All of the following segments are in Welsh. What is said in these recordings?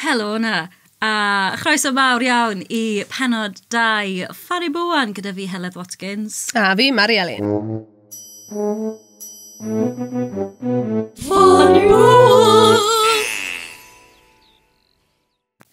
Helo 'na, a chroeso mawr iawn i penod 2 Fari Bwan gyda fi Heledd Watkins. A fi, Mari Elin. Fari Bwan!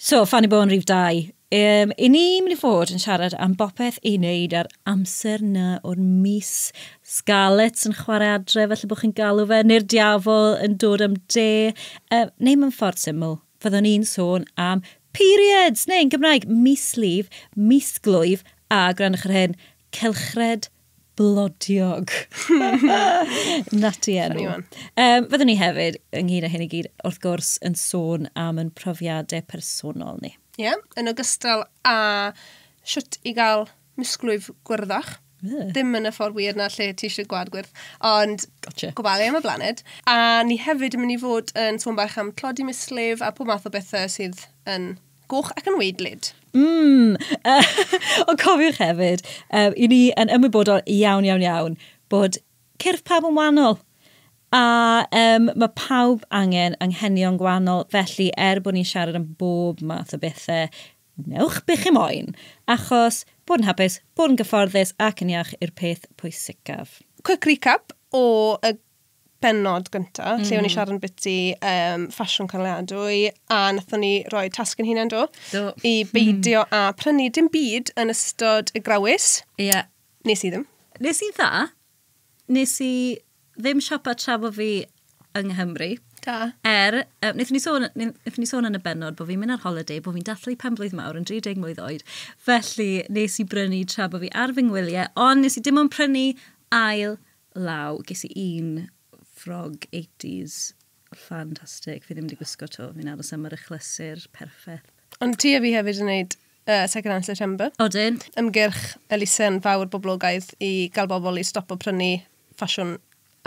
So, Fanny Bowen rhif 2. Um, I ni mynd i fod yn siarad am bopeth i wneud ar amser na o'r mis. Scarlets yn chwarae adre, felly bod chi'n galw fe, neu'r diafol yn dod am de. Um, neu mae'n ffordd syml, fyddwn i'n sôn am periods, neu yn Gymraeg, mislif, misglwyf, a grannwch yr hyn, cylchred blodiog. Nati enw. Um, fyddwn ni hefyd, ynghyd â hyn i gyd, wrth gwrs, yn sôn am yn profiadau personol ni. Ie, yeah, yn ogystal a siwt i gael misglwyf gwyrddach. Yeah. Dim yn y ffordd wir na lle ti eisiau gwad gwyrdd, ond gotcha. gofalu am y blaned. A ni hefyd yn mynd i fod yn sôn bach am tlodi mislif a pob math o bethau sydd yn Goch ac yn weidlyd. Mmm! Ond cofiwch hefyd, um, i ni yn ymwybodol iawn, iawn, iawn, bod cyrff pawb yn wahanol. A um, mae pawb angen anghenion gwahanol, felly er bod ni'n siarad am bob math o bethau, newch be chi moyn, achos bod yn hapus, bod yn gyfforddus ac yn iach yw'r peth pwysicaf. Quick recap o y bennod gyntaf, mm -hmm. lle o'n i mhm. siarad yn biti um, ffasiwn canlyadwy, a nathon ni roi tasg yn hunain do, do. i mhm. beidio mm. a prynu dim byd yn ystod y grawys. Ie. Yeah. Nes i ddim. Nes i dda. Nes i ddim siopa tra bod fi yng Nghymru. Da. Er, um, wnaethon ni sôn, wnaethon ni sôn yn y benod bod fi'n mynd ar holiday, bod fi'n dathlu pen blwydd mawr yn 30 mlwydd oed. Felly, nes i brynu tra bod fi ar fy ngwyliau, ond nes i dim ond prynu ail law, ges i un ffrog 80s ffantastig, fi ddim wedi gwisgo to, fi'n aros am yr achlysur perffaith. Ond ti a fi hefyd yn gwneud uh, Second Hand September. Odyn. Ymgyrch elusen fawr boblogaidd i gael bobl i stopo prynu ffasiwn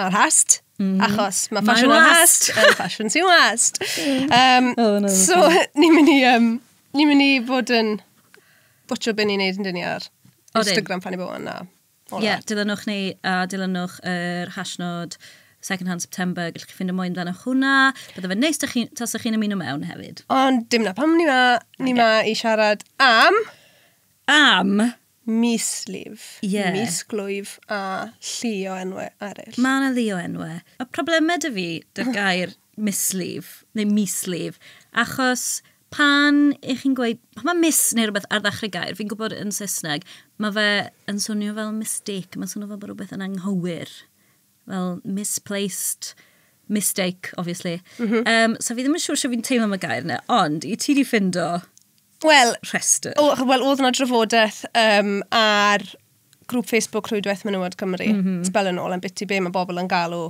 ar hast, mm. achos mae ffasiwn ar hast yn ffasiwn sy'n wast. Um, oh, no, so, ni'n mynd i, um, ni mynd i fod yn bwtio byn i'n neud yn dyn ni ar Instagram pan i bod yna. Ie, yeah, dilynwch ni a dilynwch yr er hashnod Second Hand September, gallwch chi ffindo mwy amdano hwnna. Bydde fe neis chi, tas ych chi'n ymuno mewn hefyd. Ond dim na pam ni ma, ni ma i siarad am... Am? Mislif, yeah. misglwyf a llu o enwau eraill. Mae yna llu o enwau. A problemau dy fi, dy'r gair mislif neu mislif, achos Pan ych chi'n gweud, pan mae miss neu rhywbeth ar ddechrau gair, fi'n gwybod yn Saesneg, mae fe yn swnio fel mistake, mae'n swnio fel bod rhywbeth yn anghywir, fel misplaced mistake, obviously. Mm -hmm. um, so fi ddim yn siŵr sure fi'n teimlo am y gair yna, ond i ti di ffindo well, rhestr. Wel, oedd yna drafodaeth um, ar grŵp Facebook Rhwydwaith Menywod Cymru, mm -hmm. spel yn ôl am bit i be mae bobl yn galw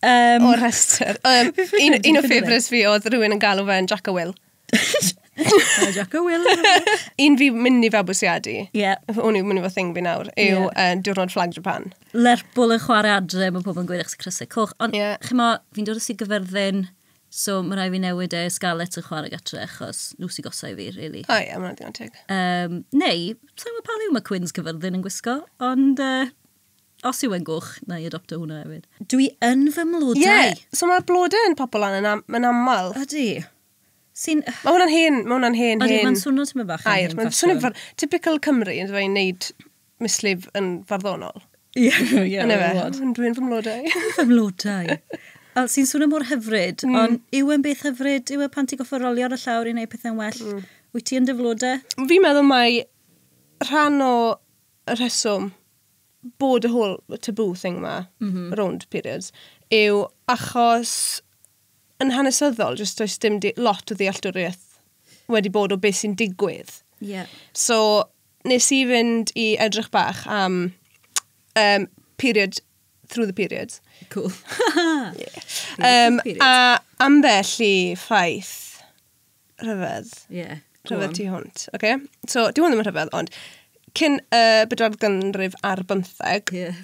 Um, o rhestr. Um, un, un o ffefrys fi oedd rhywun yn galw fe'n Jack a Will. Jack a Will. un fi mynd i fabwysiadu. Ie. Yeah. O'n i'n mynd i fod thing fi nawr. Yw yeah. uh, diwrnod Flag Japan. Lerpwl yn chwarae adre, mae pobl yn gweud eich sy'n crysau coch. Ond yeah. chymo, fi'n dod o sy'n gyferddyn, so mae rai fi newid e Scarlett yn chwarae gatre, achos nhw sy'n gosau fi, really. O oh, ie, yeah, mae'n digon teg. Um, neu, sa'n gwybod pa liw mae Quins cyferddyn yn gwisgo, ond... Uh, Os yw e'n gwch, na i adopto hwnna hefyd. Dw i yn fy mlodau. Ie, yeah, so mae'r blodau yn popol lan yn, am, yn aml. Ydy. Sy'n... Mae hwnna'n hen, mae hwnna'n hen, Ydy, hen... mae'n swnio ti'n mynd bach yn hen Mae'n swnio far... Typical Cymru, yn dweud, wneud mislif yn farddonol. Ie, yeah, ie. Yn efe, yn dwi'n fy mlodau. fy mlodau. Al, sy'n swnio mor hyfryd, mm. ond yw e'n beth hyfryd, yw e pan ti'n goffa rolio ar y llawr i wneud pethau'n well? Mm. Wyt ti yn dy flodau? Fi'n meddwl mae rhan o y rheswm bod y whole taboo thing ma, mm -hmm. rownd periods, yw achos yn hanesyddol, jyst does dim lot o ddealltwriaeth wedi bod o beth sy'n digwydd. Yeah. So, nes i fynd i edrych bach am um, period through the periods. Cool. yeah. um, a ambell i ffaith rhyfedd. Ie. Yeah, rhyfedd tu hwnt. Okay? So, di hwn ddim yn rhyfedd, ond cyn y uh, bedwar gynrif ar bymtheg, yeah.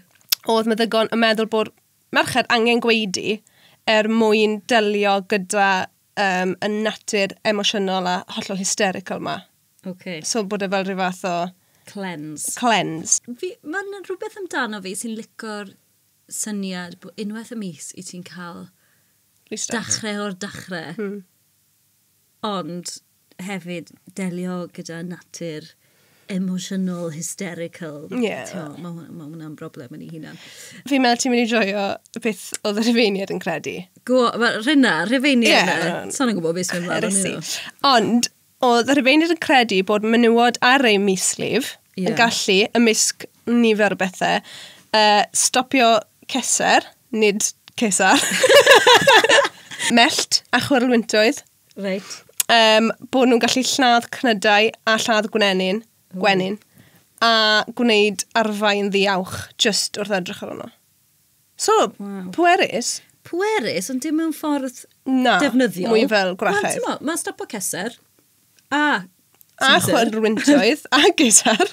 oedd meddygon yn meddwl bod merched angen gweidi er mwyn delio gyda um, y natur emosiynol a hollol hysterical ma. Okay. So bod e fel rhyw fath o... Cleanse. Cleanse. Mae'n rhywbeth amdano fi sy'n licor syniad bod unwaith y mis i ti'n cael dachre o'r dachre. Hmm. Ond hefyd delio gyda natur emotional, hysterical. Ie. Yeah. Tio, mae hwnna, ma hwnna'n broblem yn ei hunan. Fi'n meddwl ti'n mynd i joio beth oedd y rhyfeiniad yn credu. Gwo, rhywna, rhyfeiniad. Ie. Yeah. Sa'n yn gwybod beth sy'n mynd Ond, Oedd y Rhufeinydd yn credu bod menywod ar eu mislif yeah. yn gallu, ymysg nifer o bethau, uh, stopio ceser, nid cesar, mellt a chwyrlwyntoedd. Reit. Um, bod nhw'n gallu lladd cnydau a lladd gwenyn, gwenyn a gwneud arfau yn ddiawch just wrth edrych ar hwnna. So, wow. pwerus. Pwerus, ond dim mewn ffordd Na, defnyddiol. mwy fel gwrachedd. Wel, mae'n stop o ceser. A a chwenrwyntoedd a gitar.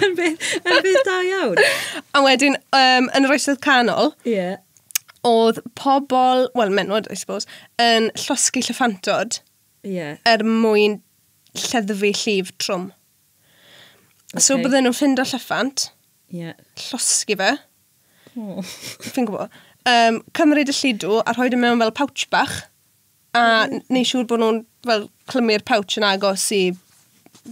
yn beth, yn beth da iawn. a wedyn, um, yn yr oesoedd canol, yeah. oedd pobl, wel, menwod, I suppose, yn llosgu llyffantod yeah. er mwyn lleddfu llif trwm. Okay. So bydden nhw'n ffind o llyffant, Ie. Llosgi fe. O. Fi'n gwybod. Um, cymryd y llidw a rhoi dim e mewn fel pouch bach. A mm. neu siŵr bod nhw'n fel clymu'r pouch yn agos i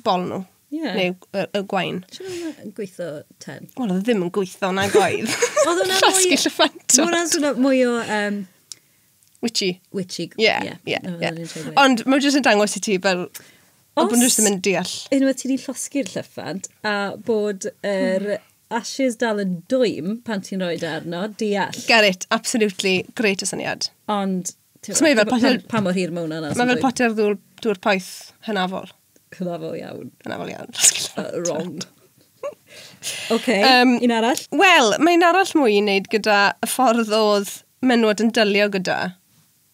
bol nhw. Yeah. Neu y, y gwain. Ti'n meddwl yn gweithio ten? Wel, oedd e ddim yn gweithio na gwaith. oedd hwnna'n mwy... Llosgi llyffant. Hwnna'n swnio mwy o... Um, Witchy. Witchy. Ie, yeah, ie. Yeah, yeah, yeah. Ond mae'n jyst yn dangos i ti fel... Os... Bod nhw'n jyst yn mynd deall. Unwaith ti wedi llosgi'r llyffant a bod yr er ashes dal yn dwym pan ti'n rhoi arno, deall. Get it, absolutely. Great o syniad. Ond... So mae fel potel... Pa mor hir mae hwnna'n... Mae fel potel ddŵr poeth hynafol. Cyfafol iawn. Cyfafol iawn. uh, wrong. okay, um, un arall? Wel, mae'n arall mwy i wneud gyda y ffordd oedd menwod yn dylio gyda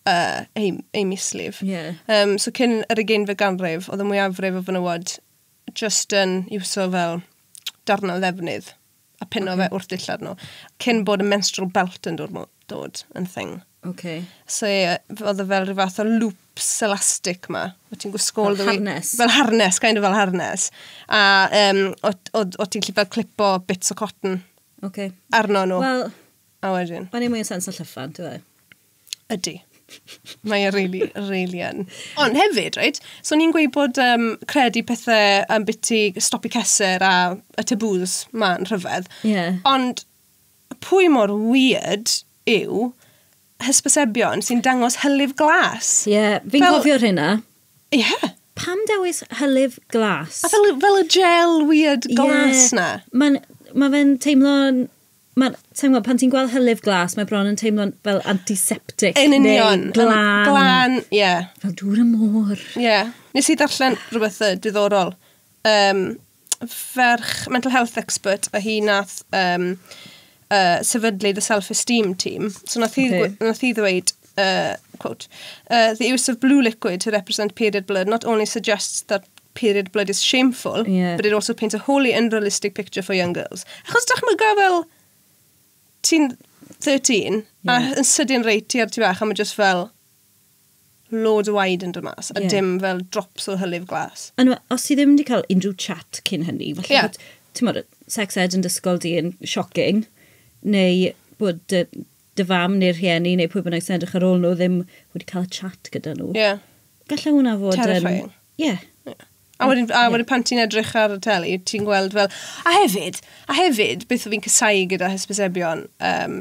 uh, ei, ei mislif. Yeah. Um, so cyn yr ugeinfed ganrif, oedd y mwyafrif o fenywod just yn iwso fel darnau ddefnydd. a pino okay. fe wrth dillad nhw. Cyn bod y menstrual belt yn dod, dod yn thing. Okay. So ie, oedd e fel rhyw fath o loops elastic ma. O ti'n gwisgol... Fel harness. Fel harness, kind of fel harness. A um, o, o, o ti'n lli fel clipo bits o cotton. Okay. Arno nhw. Wel... A wedyn. O'n i'n mwy o sens o llyffan, ti'n dweud? Ydy. Mae e really, really yn. Ond hefyd, right, so ni'n gweud bod um, credu pethau am biti stopi ceser a y taboos ma'n rhyfedd. Yeah. Ond pwy mor weird yw hysbysebion sy'n dangos hylif glas? Ie, yeah, fi'n Fel... cofio'r hynna. Ie. Yeah. Pam dewis hylif glas? A fel, fel y gel weird glas yeah. na? Mae'n ma fe'n teimlo'n Mae'n, ti'n gwybod, pan ti'n gweld hylif glas, mae bron yn teimlo'n fel antiseptic. Yn union. Neu glan. Glan, ie. Yeah. Fel dŵr y môr. Ie. Yeah. Nes i ddarllen rhywbeth uh, diddorol. Um, ferch mental health expert a hi nath um, uh, sefydlu the self-esteem team. So nath hi, okay. nath hi ddweud, Uh, quote, uh, the use of blue liquid to represent period blood not only suggests that period blood is shameful, yeah. but it also paints a wholly unrealistic picture for young girls. Achos dychmyga fel ti'n 13, yeah. a yn sydyn reit ti ar ti fach, a mae just fel loads o waed yn dod mas, a yeah. dim fel drops o hylif glas. Ond os ti ddim wedi cael unrhyw chat cyn hynny, falle yeah. bod, ti'n modd, sex ed yn dysgol di yn shocking, neu bod dy fam neu'r rhieni neu pwy bynnag sy'n edrych ar ôl nhw ddim wedi cael y chat gyda nhw. Ie. Yeah. Gallai hwnna fod yn... Terrifying. Ie. Yeah. Yeah. A wedyn, a wedyn pan ti'n edrych ar y teli, ti'n gweld fel... A hefyd, a hefyd, beth o fi'n cysau gyda hysbysebion, um,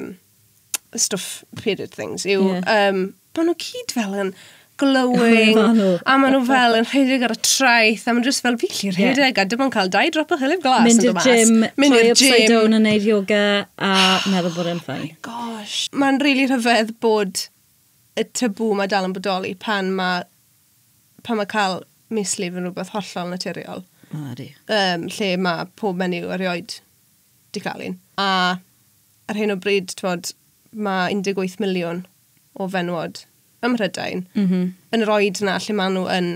stuff period things, yw... Yeah. Um, maen nhw cyd fel yn glowing, a maen nhw fel yn rhedeg ar y traeth, a maen nhw just fel, fi lli rhedeg, a dim ond cael dau drop o hylif glas yn dod mas. Mynd i'r gym, troi upside down yn neud yoga, a meddwl bod e'n ffain. Oh gosh. Mae'n rili really rhyfedd bod y tabw mae dal yn bodoli pan mae, pan mae cael mislif yn rhywbeth hollol naturiol. O, ydy. Um, lle mae pob menyw erioed di cael un. A ar hyn o bryd, twod, mae 18 miliwn o fenywod ym Mhrydain mm -hmm. yn yr oed yna lle maen nhw yn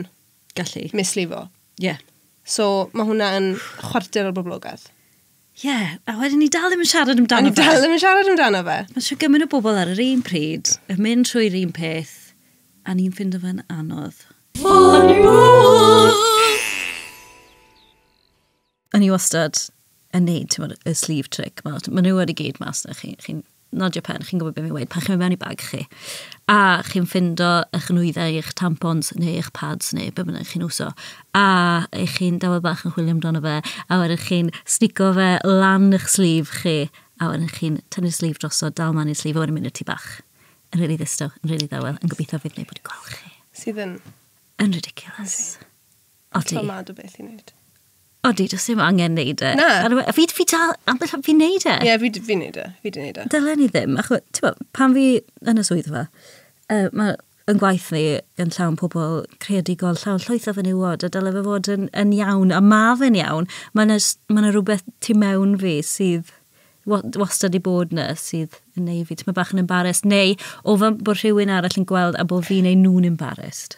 gallu mislifo. Ie. Yeah. So mae hwnna yn chwarter o'r boblogaeth. Ie, yeah. a wedyn ni dal ddim yn siarad amdano fe. A ni dal ddim yn siarad amdano fe. Mae siw gymryd o bobl ar yr un pryd yn mynd trwy'r un peth a ni'n ffind o fe'n anodd. Ffonio! o'n i wastad yn neud, ti'n y sleeve trick. Mae ma nhw wedi gyd mas na chi. Chi'n nodio pen, chi'n gwybod beth mi'n weid pan chi'n mewn i bag chi. A chi'n ffindo eich nwyddau, eich tampons neu eich pads neu beth bynnag chi'n uso. A eich chi'n dawel bach yn chwilio amdano fe. A wedyn chi'n snico fe lan eich sleeve chi. A wedyn chi'n tynnu'r sleeve drosodd, dal man i'r sleeve a wedyn mynd i'r tu bach. Yn rili ddistaw, yn rili ddawel, yn gobeithio fydd neu bod i'n gweld chi. Sydd yn... Yn ridiculous. Okay. Odi. Ti'n mad o beth i wneud. Odi, does dim angen neud e. Na. Fi, fi dal, ambell fi'n neud e. Ie, yeah, fi'n fi neud e. Fi di neud e. Dylen ni ddim, achos, ti'n bod, pan fi yn y swyddfa, uh, mae yn gwaith ni yn llawn pobl creadigol, llawn llwyth o fenywod, a dyle fe fod yn, yn iawn, a ma fe'n iawn. Mae yna ma rhywbeth tu mewn fi sydd wastad i bod yna sydd yn neud fi, ti'n bach yn embarrassed, neu o fy bod rhywun arall yn gweld a bod fi'n ei nhw'n embarrassed.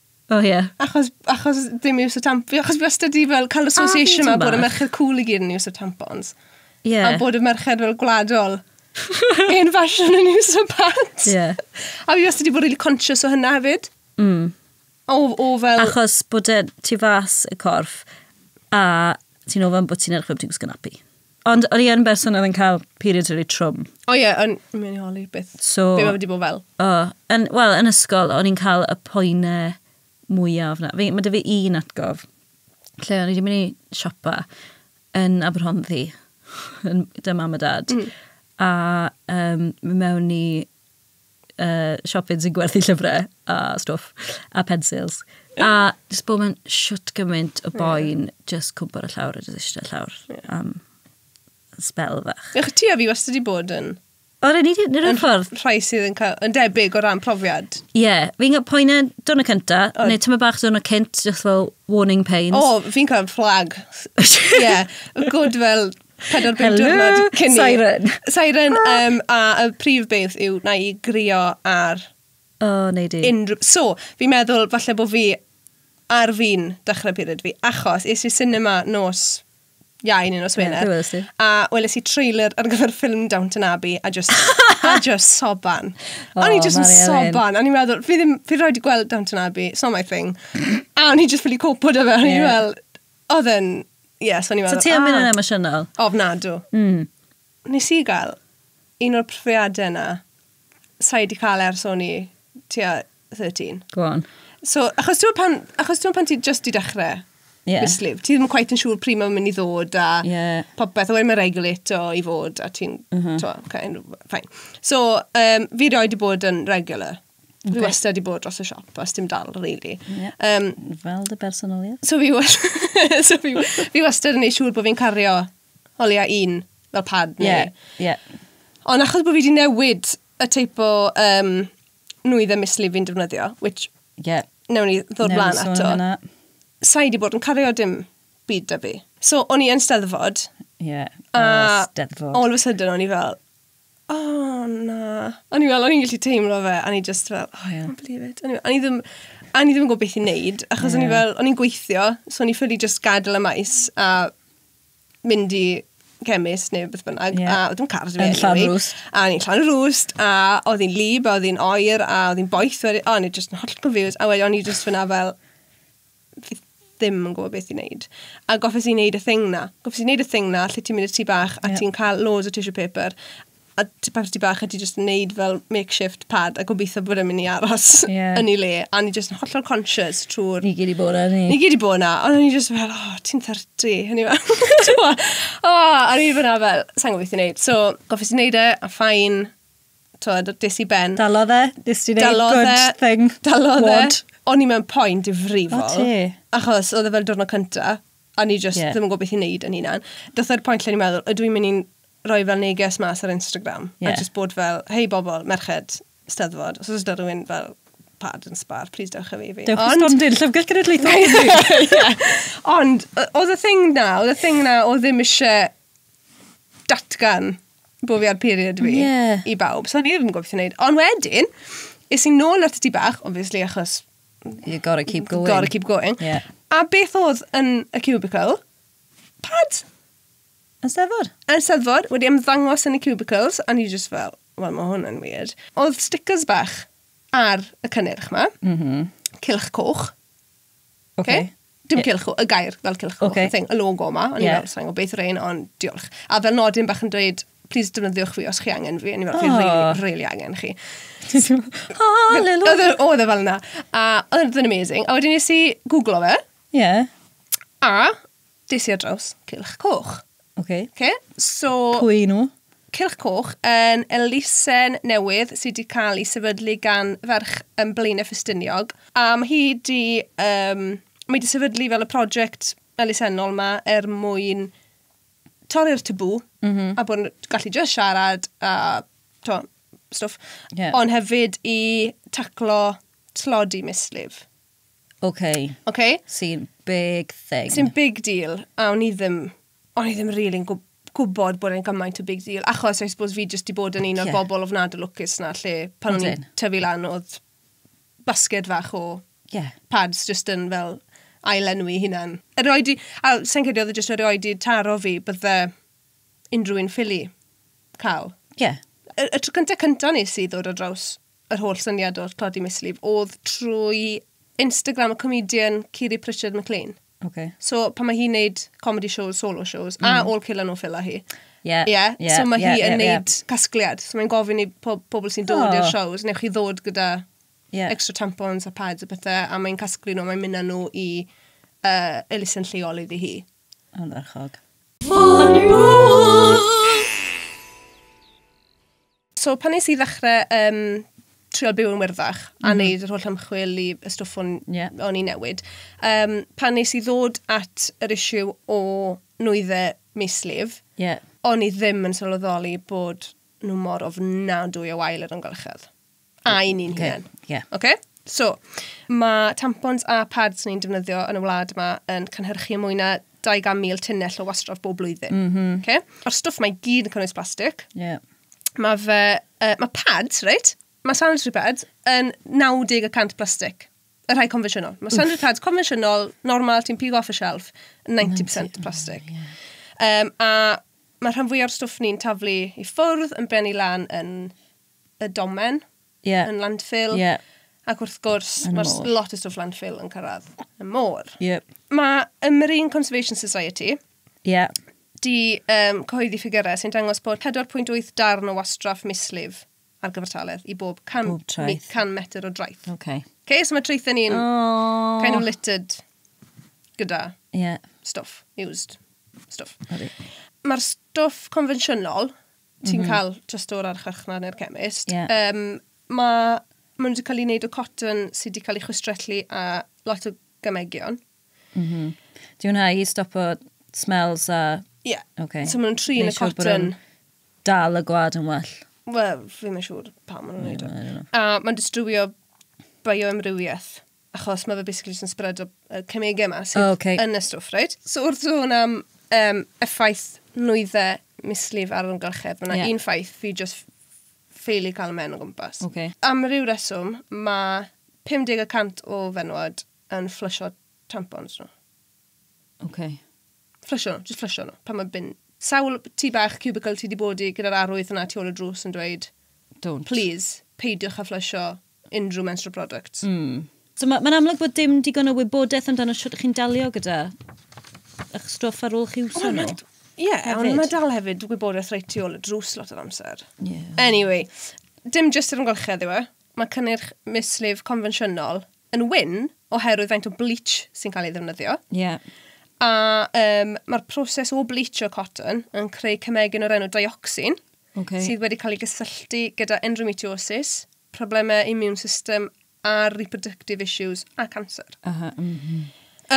O oh, ie. Yeah. Achos, achos dim iws o tampons. Achos fi wastad wedi fel cael association yma bod y merched cool i gyd yn iws o tampons. Ie. Yeah. A bod y merched fel gwladol yn fashion yn iws o pads. Ie. Yeah. A fi wastad wedi bod really conscious o hynna hefyd. Mm. O, o fel... Achos bod e ti fas y corff a ti'n ofyn bod ti'n edrych bod ti'n gwisgo napi. Ond o'n i yn berson oedd yn cael periods really trwm. O ie, yn mynd i holi beth. So, Be mae wedi bod fel? o, yn, wel, yn ysgol, o'n i'n cael y poenau mwyaf na. Fi, mae dy fi un atgof, lle o'n i wedi mynd i siopa yn Aberhonddu, yn dy mam a dad, a um, mewn i uh, siopyn sy'n gwerthu llyfrau a stwff, a pensils. A jyst bod mewn siwt gymaint o boen, yeah. jyst cwmpo'r llawr a jyst eisiau llawr yeah. am spel fach. Ych ti a fi wastad wedi bod yn... O, rydyn ni wedi rhywun ffordd. Rhai sydd yn, cael, yn debyg o ran profiad. Ie, yeah. fi'n cael poen yn dwrnod cynta, oh. neu tyma bach dwrnod cynt, just fel warning pains. O, oh, fi'n cael flag. Ie, yeah. good fel Pedwar bum diwrnod cyn i... Siren. Siren, um, a y prif beth yw na i grio ar O, oh, neu di. unrhyw... So, fi'n meddwl falle bod fi ar fi'n dechrau period fi, achos es i cinema nos iau neu nos Wener. Ie, welais i. A weles i trailer ar gyfer ffilm Downton Abbey a just, a just soban. O, o'n i just yn Mari Elin. soban. O'n i'n meddwl, fi ddim, fi rhaid i gweld Downton Abbey, it's not my thing. a o'n i just ffili copo da fe, o'n i Ie. fel, Oedd yn, ie, yeah, so ni'n meddwl... So ti am mynd yn ah. emosiynol? Ofnadw. Mm. Nes i gael un o'r profiadau yna, sa'i di cael ers o'n i tua 13. Go on. So, achos ti'n pan, achos ti'n pan ti just i dechrau yeah. mislif, ti ddim yn quite yn siŵr pryd mae'n mynd i ddod a yeah. popeth, a wedyn mae'n regulate o i fod a ti'n, uh mhm. -huh. okay, fine. So, um, fi roi di bod yn regular. Dwi okay. wastad wedi bod dros y siop, os dim dal, really. Yeah. Um, Fel dy bersonoliaeth. So fi, so fi, fi wastad yn ei siŵr bod fi'n cario holiau un fel pad. Yeah, yeah. Ond achos bod fi wedi newid y teip o um, nwydd y misli fi'n defnyddio, which yeah. newn ni ddod blaen ato, sa'i wedi bod yn cario dim byd da fi. So, o'n i yn steddfod. Yeah, a steddfod. all of a sudden o'n i fel, oh, na. O'n i fel, o'n i'n gallu teimlo fe, a ni just fel, oh, yeah. can't believe it. O'n i ddim, a ni ddim yn gwybod beth i'n neud, achos yeah. o'n i fel, o'n i'n gweithio, so o'n i ffili just gadw y maes, a mynd i cemis neu beth bynnag, yeah. a oedd yn car Yn llan rwst. A ni'n llan rwst, a oedd hi'n lib, a oedd hi'n oer, a oedd hi'n boeth, a o'n i just yn holl confused, a wedi o'n i just fyna fel, fi ddim yn gwybod beth i wneud. A goffes i wneud y thing na. Goffes i wneud y thing na, lle ti'n mynd i'r tŷ bach a yeah. ti'n cael loads o tissue paper a papur tŷ bach a ti'n just wneud fel makeshift pad a gobeithio bod yn mynd i aros yeah. yn ei le. A ni just yn hollol conscious trwy'r... Ni gyd i bod yna, ni. Ni gyd i bod yna. Ond ni just fel, oh, ti'n 30. Hynny fel, oh, a ni fyna fel, sa'n gwybod beth i wneud. So, goffes i wneud e, a ffain, tywed, des i ben. Dalodd e? Nes ti neud Dalodd good e. thing? Dalodd e. Wad. O'n i mewn poen difrifol. O, ti. Achos oedd e fel diwrnod cynta, a ni just Ie. ddim yn gwybod beth i'n neud yn hunan. Doth e'r pwynt lle ni'n meddwl, ydw i'n mynd i'n rhoi fel neges mas ar Instagram, Ie. a just bod fel, hei bobl, merched, steddfod, os oes yna rhywun fel pad yn sbar, please dewch â fi i fi. Dewch i stondin, llyfrgell genedlaethol. Ond, o- oedd y thing na, oedd y thing na, oedd ddim eisiau datgan bod fi ar period fi yeah. i bawb. So o'n i ddim yn gwybod beth i wneud. Ond wedyn, is i'n nôl at y ti bach, obviously, achos... You gotta keep going. Gotta keep going. Yeah. A beth oedd yn y cubicle? Pad. Yn steddfod? Yn steddfod, wedi ymddangos yn y cubicles, a ni just fel, wel, mae hwn yn weird. Oedd stickers bach ar y cynnyrch ma. Mm -hmm. Cilch coch. Okay. okay. Dim cylch, y gair fel cylch okay. thing, y logo yma. O'n yeah. i'n fel, o beth yw'r ein, ond diolch. A fel nodyn bach yn dweud, please defnyddiwch fi os chi angen fi. O'n i'n fel, fi really, really angen chi. Hallelujah. Oedd e fel yna. A oedd e'n amazing. A wedyn nes i googlo fe. Yeah. A Des i ar draws Cylch Coch. Ok. Okay, so... Pwy nhw? Cylch Coch yn elusen newydd sydd wedi cael ei sefydlu gan ferch yn Blaenau Ffestiniog. A mae hi wedi... Um, mae wedi sefydlu fel y prosiect elusennol yma er mwyn torri'r tabw mm -hmm. a bod yn gallu just siarad a to, stwff. Yeah. Ond hefyd i taclo tlodi mislif. Okay. Okay? Sy'n big thing. Sy'n big deal, a o'n i ddim, o'n i ddim really yn gwybod bod e'n gymaint o big deal, achos I suppose fi jyst i bod yn un o'r yeah. bobl o fnad o lwcus na, lle pan o'n i'n tyfu lan oedd basged fach o yeah. pads jyst yn fel ailenwi hunan. Yr oed i, a sy'n credu oedd e jyst yr oed i taro fi bydde unrhyw un ffili cael. Ie. Yeah. Y, y tro cyntaf cyntaf nes i ddod o draws yr holl syniad o'r Claudia Mislif oedd trwy Instagram y comedian Kiri Pritchard McLean. Okay. So pan mae hi'n neud comedy shows, solo shows, mm. a all kill and no filler hi. Yeah. Yeah. yeah. So mae yeah, hi yn yeah, neud yeah. casgliad. So mae'n gofyn i po pobl sy'n dod oh. i'r shows, neu chi ddod gyda yeah. extra tampons a pads a bethau, a mae'n casglu nhw, mae'n mynd â nhw i uh, elusen lleol iddi hi. Yn ddarchog. Fôn So pan nes i ddechrau um, trio byw yn wyrddach mm. a mhm. wneud yr holl ymchwil i y stwff o'n, yeah. on i newid, um, pan nes i ddod at yr isiw o nwyddau mislif, yeah. o'n i ddim yn sylweddoli bod nhw mor ofnadwy o wael yr ymgylchedd. A i ni'n okay. hynny. Yeah. Okay? So, mae tampons a pads ni'n defnyddio yn y wlad yma yn cynhyrchu mwy na 200,000 tunnell o wastraff bob blwyddyn. Mm -hmm. okay? Mae'r stwff mae gyd yn cynnwys plastig. Yeah. Mae fe... Uh, mae pads, reit? Mae sanitary pads yn 90% plastig. Y rhai confensiynol. Mae sanitary pads confensiynol, normal, ti'n pigo off y shelf, 90% plastig. Oh, yeah. um, a mae rhan fwy o'r stwff ni'n taflu i ffwrdd yn brennu lan yn y domen. yeah. yn landfill. Yeah. Ac wrth gwrs, mae lot o stwff landfill yn cyrraedd y môr. Yep. Mae y Marine Conservation Society yeah. di um, cyhoeddi ffigurau sy'n dangos bod 4.8 darn o wastraff mislif ar gyfartaledd i bob 100, bob mi, 100 metr o draeth. Okay. Okay, so mae traethau ni'n oh. kind of littered gyda yeah. stuff, used stuff. Mae'r stuff convensiynol ti'n mm -hmm. cael just o'r archfarchnad neu'r chemist. Yeah. Um, mae maen nhw wedi cael ei wneud o cotton sydd wedi cael ei chwistrellu a lot o gymegion. Mm -hmm. Di hwnna i stopo smells a... Ie. Yeah. Okay. So maen nhw'n trin y cotton. Dal y gwad yn well. Wel, fi'n mynd siŵr pa maen nhw'n neud o. A mae'n distrywio bioamrywiaeth. achos mae fe basically just yn spread o uh, cemegau yma sydd oh, okay. yn y stwff, right? So wrth sôn am um, effaith nwyddau mislif ar yr ymgylchedd, mae yna yeah. un ffaith fi just ffeili cael y men o gwmpas. Okay. Am ryw reswm, mae 50% o fenwod yn fflysio tampons nhw. Okay. Fflysio nhw, just fflysio nhw. Pan mae bin... Sawl tu bach cubicle ti wedi bod i gyda'r arwydd yna tu ôl y drws yn dweud... Don't. Please, peidiwch a fflysio unrhyw menstrual products. Mm. So mae'n ma amlwg bod dim digon o wybodaeth amdano sut chi'n dalio gyda eich stwff ar ôl chi wso nhw. Ie, yeah, ond mae dal hefyd wybodaeth reit tu ôl y drws lot o amser. Yeah. Anyway, dim jyst yr ymgylchedd yw e. Mae cynnyrch mislif confensiynol yn wyn oherwydd faint o bleach sy'n cael ei ddefnyddio. Yeah. A um, mae'r proses o bleachio cotton yn creu cymegyn o'r enw dioxin. okay. sydd wedi cael ei gysylltu gyda endometriosis, problemau immune system a reproductive issues a cancer. Uh -huh, mm -hmm.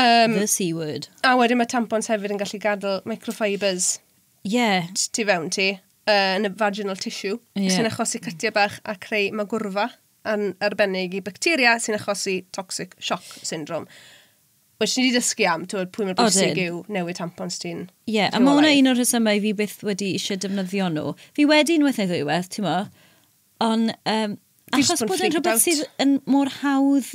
um, The C word. A wedyn mae tampons hefyd yn gallu gadael microfibers yeah. ti fewn ti uh, yn y vaginal tissue yeah. sy'n achosi cytiau bach a creu magwrfa yn arbennig i bacteria sy'n achosi toxic shock syndrome. Wel, ti wedi dysgu am, ti'n pwy mor bwysig yw newid tampons ti'n... Ie, yeah, a mae hwnna un o'r rhesymau fi byth wedi eisiau defnyddio nhw. Fi wedi unwaith neu ddwywaith, ti'n mo? Ond, um, achos bod yn rhywbeth sydd yn mor hawdd,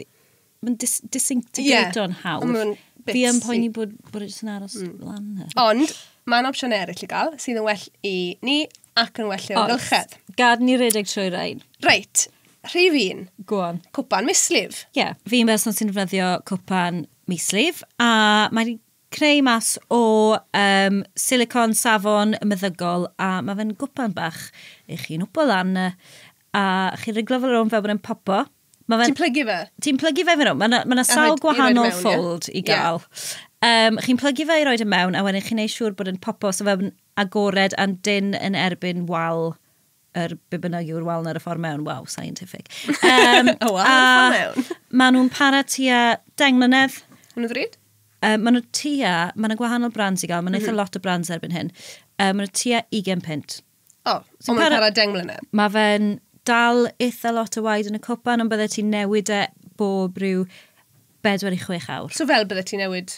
mae'n dis disintegrato'n yeah, hawdd. Fi yn poeni bod, bod e jyst yn aros mm. lan. Ond, mae'n opsiwn eraill i gael, sydd yn well i ni Ac yn well i'r amgylchedd. Gad ni redeg trwy rain. Reit, rhif un. Go on. Cwpan mislif. Ie, yeah. fi'n berson sy'n defnyddio cwpan mislif a mae'n creu mas o um, silicon, safon, meddygol a mae fe'n gwpan bach i chi'n wpo lan a chi'n riglo fel rhwng fel bod e'n popo Mae fe'n... Ti'n plygu fe? Ti'n plygu fe fe nhw. Mae yna ma sawl gwahanol mewn, fold yeah. i gael. Yeah. Um, chi'n plygu fe i roed y mewn, a wedyn chi'n ei siŵr bod yn popo, so fe'n agored a'n dyn yn erbyn wal yr be bynnag yw'r wal ar y ffordd mewn. Wow, scientific. Um, y wal ar y ffordd mewn. Maen nhw'n para tua deng mlynedd. Yn y ddryd? Um, maen nhw tua, maen nhw gwahanol brands i gael, maen nhw mm -hmm. eitha mhm. lot o brands erbyn hyn. Um, maen nhw tua 20 pint. O, oh, so mae'n para deng mlynedd? Mae fe'n dal eitha lot o waed yn y copan, ond bydde ti'n newid e bob rhyw 4 i 6 awr. So fel bydde ti'n newid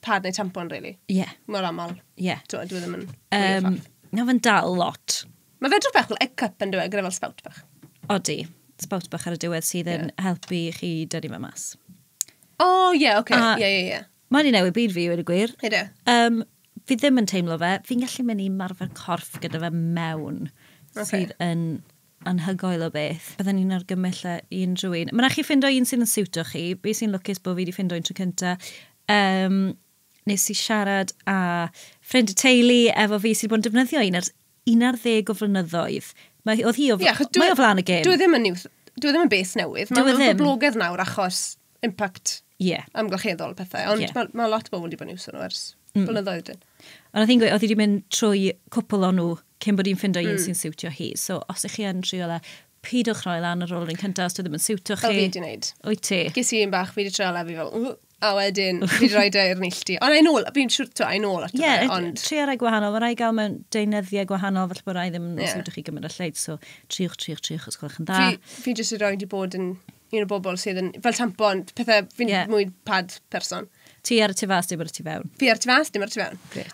pad neu tampon, really? Ie. Yeah. Mor aml? Ie. Yeah. Dwi e ddim yn... Um, na fe'n dal lot. Mae fe drwbach fel egg cup yn dweud, gyda fel spout bach. Odi, spout bach ar y diwedd sydd yn yeah. helpu chi dynnu fe mas. O, oh, ie, yeah, oce. Okay. Ie, ie, ie. Mae wedi newid byd fi, wedi gwir. Ydy. Um, fi ddim yn teimlo fe. Fi'n gallu mynd i marfer corff gyda fe mewn. Okay. Sydd yn anhygoel o beth. Bydden ni'n argymell e i unrhyw un. Mae'n rhaid chi ffindo un sy'n siwto chi. Be sy'n lwcus bod fi wedi ffindo un tro cynta. Um, nes i siarad a ffrind y teulu efo fi sydd wedi bod yn defnyddio un ers un ar ddeg o flynyddoedd. Mae, oedd hi o, yeah, dwi, mae o flan y gêm. Dwi e ddim yn new, dwi e ddim yn beth newydd. Mae'n e boblogaidd nawr achos impact yeah. amgylcheddol pethau. Ond yeah. mae, mae lot o bobl wedi bod yn iwsio nhw ers mm. blynyddoedd dyn. Ond oedd hi'n gweud, oedd hi wedi mynd trwy cwpl o'n nhw cyn bod hi'n ffindo mm. un sy'n siwtio hi. So os ych chi yn trio le, pidwch rhoi lan ar ôl yr un cyntaf os dwi ddim yn siwtio chi. O fi wedi wneud. O'i ti? Ges i un bach, fi wedi trio le fi fel, A wedyn, fi wedi rhoi i'r neilltu. Ond ein ôl, fi'n siwr, to, ein ôl at y yeah, ond... Trio rhai gwahanol, mae rhai gael mewn deunyddiau gwahanol, felly bod rhai ddim yn yeah. siwtio chi gymryd y lleid, so triwch, triwch, triwch, os gwelwch yn dda. Fi, fi jyst wedi rhoi wedi bod yn un o bobl sydd yn, fel tampon, pethau, fi'n yeah. mwy pad person. Ti ar y tu fas, dim ar y tu fewn. Fi ar y tu fas, dim ar y tu fewn. Great.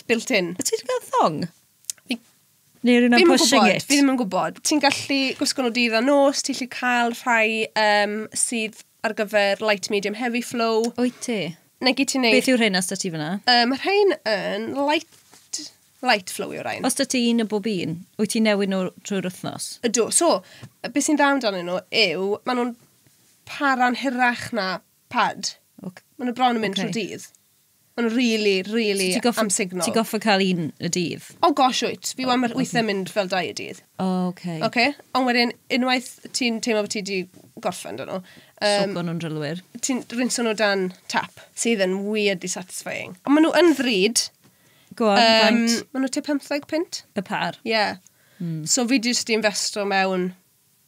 built in. Wyt ti wedi cael thong? Neu rhywun am pushing it? Fi ddim yn gwybod. Ti'n gallu gwisgo nhw dydd a nos, ti'n gallu cael rhai um, sydd ar gyfer light, medium, heavy flow. Wyt ti? Neu gyd ti'n neud... Beth yw'r rhain os da ti fyna? Um, mae rhain yn light light flow yw'r rhain. Os da ti un o bob un, wyt ti'n newid nhw trwy'r wythnos? Ydw. So, beth sy'n dda amdanyn nhw yw, maen nhw'n para'n hirach na Pad. Ok. Maen nhw bron yn mynd trwy dydd. Maen nhw really, really so am signal. Ti'n goffa cael un y dydd? Oh gosh, wyt. Fi wan weithiau mynd fel dau y dydd. Oh, ok. Ok, ond wedyn, unwaith ti'n teimlo bod ti wedi gorffen dyn nhw. Um, Sogo nhw'n drylwyr. Ti'n rinso nhw dan tap, sydd yn weirdly satisfying. Ond maen nhw yn ddrud. Go on, um, faint? Maen nhw te 15 pint. Y par? Ie. Yeah. Mm. So fi jyst i investo mewn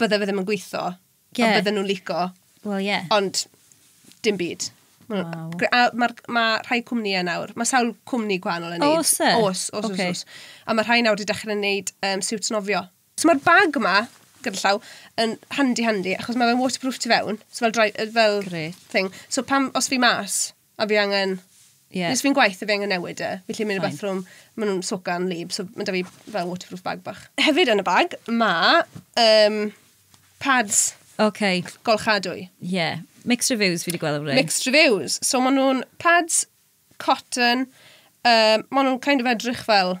bydde fe ddim yn gweithio, yeah. ond bydde nhw'n lico. Well, yeah. Ond dim byd. Wow. Mae'r ma rhai cwmnïau nawr, mae sawl cwmni gwahanol yn neud. Os e? Os, os, okay. os, os. A mae rhai nawr wedi dechrau wneud um, siwt nofio. So mae'r bag yma, gyda llaw, yn handi handi, achos mae fe'n waterproof tu fewn, so fel, dry, fel Great. thing. So pam, os fi mas, A fi angen... Ie. Jyst fi'n gwaith a fi angen newid e. Felly mynd i'r Fine. bathroom, maen nhw'n socan lib, so mae da fi fel waterproof bag bach. Hefyd yn y bag, mae um, pads OK. golchadwy. Ie. Mixed reviews fi wedi gweld am rei. Mixed reviews. So maen nhw'n pads cotton, um, maen nhw'n kind of edrych fel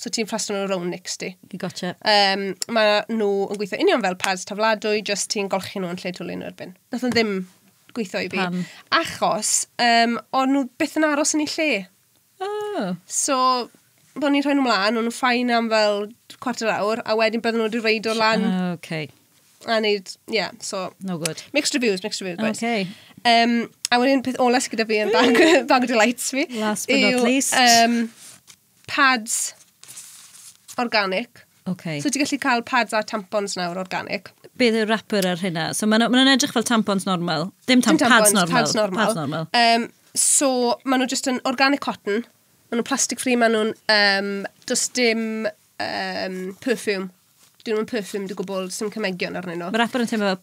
so ti'n ffrastio nhw rownd nics di. Gotcha. Um, mae nhw yn gweithio union fel pads tafladwy, jyst ti'n golchi nhw yn lle twlu nhw erbyn. Nath nhw ddim gweithio i fi. Pam? Achos, um, o'n nhw byth yn aros yn ei lle. Oh. So, o'n i'n rhoi nhw mlaen, o'n nhw'n ffain am fel cwarter awr, a wedyn bydden nhw wedi reid o'r lan. Oh, okay. A neud, yeah, so... No good. Mixed reviews, mixed reviews, boys. Okay. Um, a wedyn peth ola sydd gyda fi yn bag, bag o delights fi. Last but yw, not least. Um, pads organic. Okay. So ti'n gallu cael pads a tampons nawr organic. Beth yw'r wrapper ar hynna? So maen nhw'n edrych fel tampons normal. Dim, tam Dim tampons, pads normal. Pads normal. Pads normal. Um, so maen nhw just yn organic cotton. Maen nhw'n plastic free, maen nhw'n um, just dim um, perfume. Dyn nhw'n perfume dy gwbl, sy'n cymegion arnyn nhw. Mae'r wrapper yn teimlo fel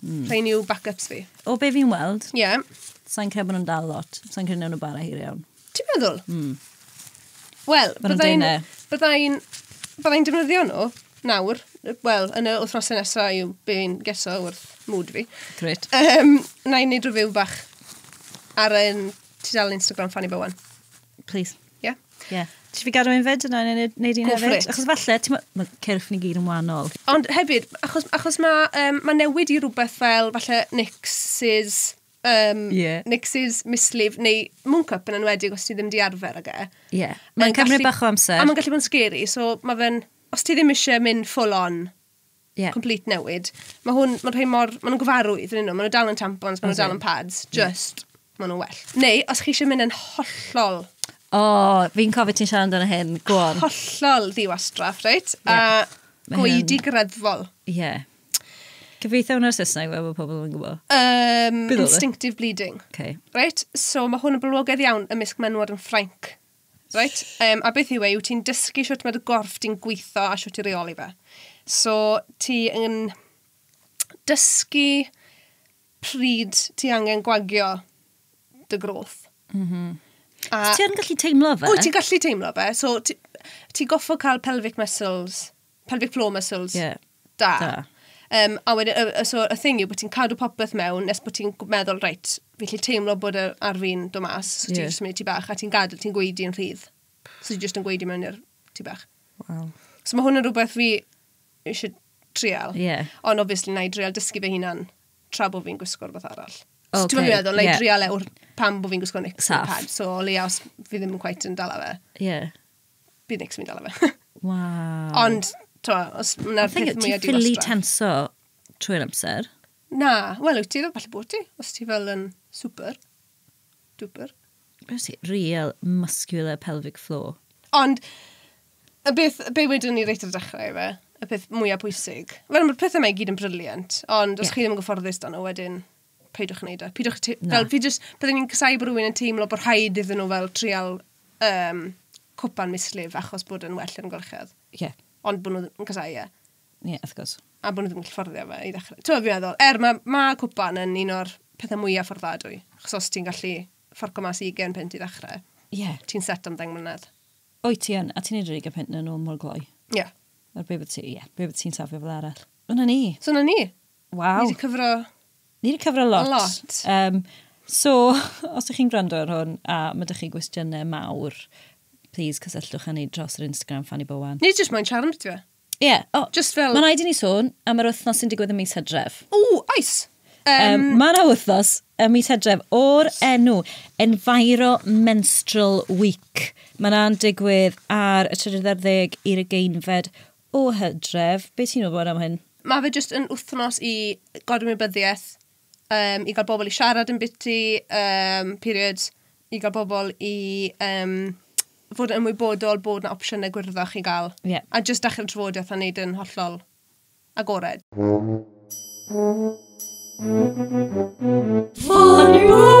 Mm. Rhain yw backups fi. O be fi'n weld? Ie. Yeah. Sa'n credu bod nhw'n dal lot. Sa'n credu nhw'n bara hir iawn. Ti'n meddwl? Mm. Wel, byddai'n... Byddai'n... Byddai'n defnyddio nhw nawr. Wel, yn y wythnosau nesaf yw be fi'n geso wrth mwd fi. Gret. Um, na i wneud rhyw bach ar yn tudalen Instagram Fanny Bowen. Please. Ie. Ie. Ti fi gadw un fyd yna neu wneud un hefyd? Achos falle, ti'n mae cyrff ni gyd yn wahanol. Ond hefyd, achos, achos mae um, ma newid i rhywbeth fel falle Nix's, um, yeah. Nix's mislif neu Mooncup yn enwedig os ti ddim di arfer ag e. Ie. Yeah. Mae'n cymryd bach o amser. A mae'n gallu bod yn scary, so mae fe'n, os ti ddim eisiau mynd full on, Yeah. Complete newid. Mae hwn, mae'n rhoi mor, mae nhw'n gyfarwydd yn un nhw, mae nhw dal yn tampons, mae nhw dal yn pads, just, yeah. mae nhw'n well. Neu, os chi eisiau mynd yn hollol... O, oh, fi'n cofio ti'n siarad amdano hyn, go on. Hollol ddiwastraff, reit? Yeah. A gweidi greddfol. Ie. Yeah. Cyfeithio hwnna'r Saesneg fe bod pobl yn gwybod? Um, instinctive bleeding. Okay. Right? So mae hwn yn blwogaidd iawn ymysg menwod yn Ffrainc. Reit, um, a beth yw e? Yw ti'n dysgu sut mae dy gorff di'n gweithio a sut i reoli fe. So, ti yn dysgu pryd ti angen gwagio dy groth. Mm -hmm. A... Ti'n gallu teimlo fe? O, ti'n gallu teimlo fe. So, ti, ti goffo cael pelvic muscles pelvic floor muscles. Yeah. Da. da. Um, a wedyn, uh, so y thing yw bod ti'n cadw popeth mewn nes bod ti'n meddwl, reit, fi'n lle teimlo bod yr ar fi'n do mas, so ti'n yeah. jyst mynd ti bach, a ti'n gadael, ti'n gweidi yn rhydd. So ti'n jyst yn gweidi mewn i'r ti bach. Wow. So mae hwn yn rhywbeth fi eisiau trial. Yeah. Ond obviously, na i trial dysgu fy hunan tra bod fi'n gwisgo'r beth arall. Okay. So ti'n meddwl, na i yeah. trial e pam bod fi'n gwisgo nic pad. So o leia os fi ddim yn quite yn dala fe. Yeah. bydd Nick's mynd ala fe. Waw. Ond, twa, os yna'r peth mwyaf diwastra. Ti'n ffili tenso trwy'r amser? Na, wel, wyt ti fel falle bod ti, os ti fel yn super, duper. Beth ti? Real muscular pelvic floor. Ond, y beth, be wedyn ni reit ar y dechrau fe, y peth mwyaf pwysig. Wel, mae'r pethau yma i gyd yn briliant, ond os yeah. chi ddim yn gyfforddus dan nhw wedyn, peidiwch yn neud e. Peidiwch, fel, fi just, byddwn ni'n casau bod rhywun yn teimlo bod rhaid iddyn nhw fel trial um, cwpan mislif achos bod yn well yn golchedd. Ie. Yeah. Ond bod nhw'n casau, ie. Yeah. Ie, yeah, of course. A bod nhw ddim yn fforddio fe i ddechrau. Ti'n fi'n meddwl, er mae ma cwpan yn un o'r pethau mwyaf fforddadwy, achos os ti'n gallu fforco mas i gen pint i ddechrau, yeah. ti'n set am ddeng mlynedd. Oi ti yn, a ti'n neud yr ugen pint yn nhw mor gloi. Ie. Yeah. Ar be bod ti, ie, yeah, be bod ti'n safio fel arall. Yna ni. So yna ni. Waw. Ni wedi cyfro... Ni wedi cyfro lot. Lot. Um, so, os ydych chi'n gwrando ar hwn a mae ydych chi gwestiynau mawr, please cysylltwch â ni dros yr Instagram Fanny Bowen. Ni jyst mae'n charmed ti fe. Ie. Yeah. Oh, Just fel... Mae'n rhaid i ni sôn am yr wythnos sy'n digwydd y mis hydref. O, oes! Um, mae yna wythnos y mis hydref o'r enw Enviro Menstrual Week. Mae yna'n digwydd ar y 30 i'r ugeinfed O Hydref, be ti'n wybod am hyn? Mae fe jyst yn wythnos i godymwybyddiaeth, um, i gael bobl i siarad yn biti, um, period, i gael bobl i um, fod yn ymwybodol bod yna opsiynau gwyrddach i gael. Yeah. A jyst dachrau trafodaeth a wneud yn hollol agored. Fôn!